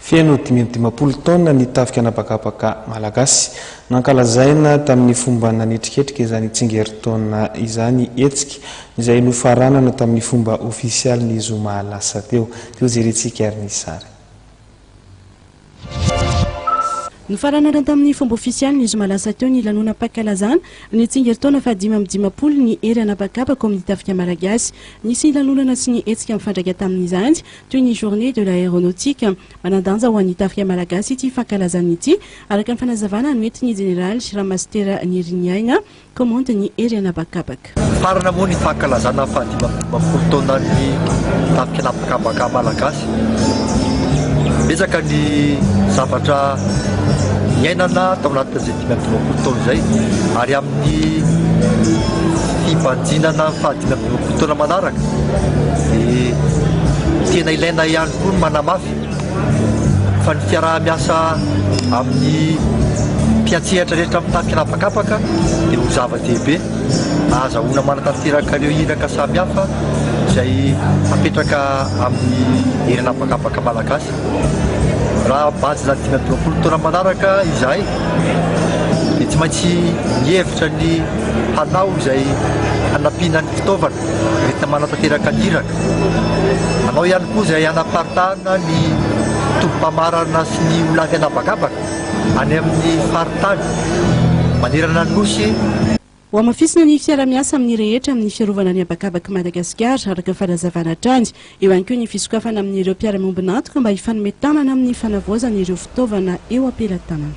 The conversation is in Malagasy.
Feno dimy amby dimampolo taona ny tafika an'habakabaka malagasy. Nankalazaina tamin'ny fomba nanetriketrika izany tsingerintaona izany hetsika izay nofaranana tamin'ny fomba ofisialy ny zoma lasa teo. Toa jerentsika ary ny sary. Nofaranana tamin'ny fomba ofisialy ny zoma lasa teo ny lanonam-pankalazana ny tsingerintaona fahadimy amby dimampolo ny hery an'habakabaka ao amin'ny tafika malagasy. Nisy lanonana sy ny hetsika mifandraika tamin'izany Toy ny Journée de l'Aéronautique, manan-danja ho an'ny tafika malagasy ity fankalazana ity, araka ny fanazavana noentin'ny Jeneraly Ramasitera Niriniaina, Kaomandin'ny Hery An'habakabaka. Farana moa ny fankalazana ny fahadimy amby dimampolo taonan'ny tafika an'habakabaka malagasy. Betsaka ny zavatra niainana tao anatin'izay dimy amby dimampolo taona izay ary amin'ny fibanjinana ny fahadimy amby dimampolo taona manaraka dia tena ilaina ihany koa ny manamafy fa ny fiaraha-miasa amin'ny mpiantsehatra rehetra amin'ny tafika an'habakabaka dia ho zava-dehibe ahazahoana manatanteraka ireo iraka samihafa izay apetraka amin'ny hery an'habakabaka malagasy Raha bachelor dimy amby roapolo taona manaraka izahay dia tsy maintsy mihevitra ny hanao izay hanampiana ny fitaovana entina manatanteraka ny iraka. Hanao ihany koa izay hanaparitahana ny tobim-pamarana sy ny olan'ny anabakabaka any amin'ny faritany manerana ny Nosy. Hohamafisina ny fiara-miasa amin'ny rehetra amin'ny fiarovana ny habakabak'i Madagasikara, araka ny fanazavana hatrany. Eo ihany koa ny fisokafana amin'ireo mpiara-miombon'antoka mba hifanome tanana amin'ny fanavaozana ireo fitaovana eo am-pelatanana.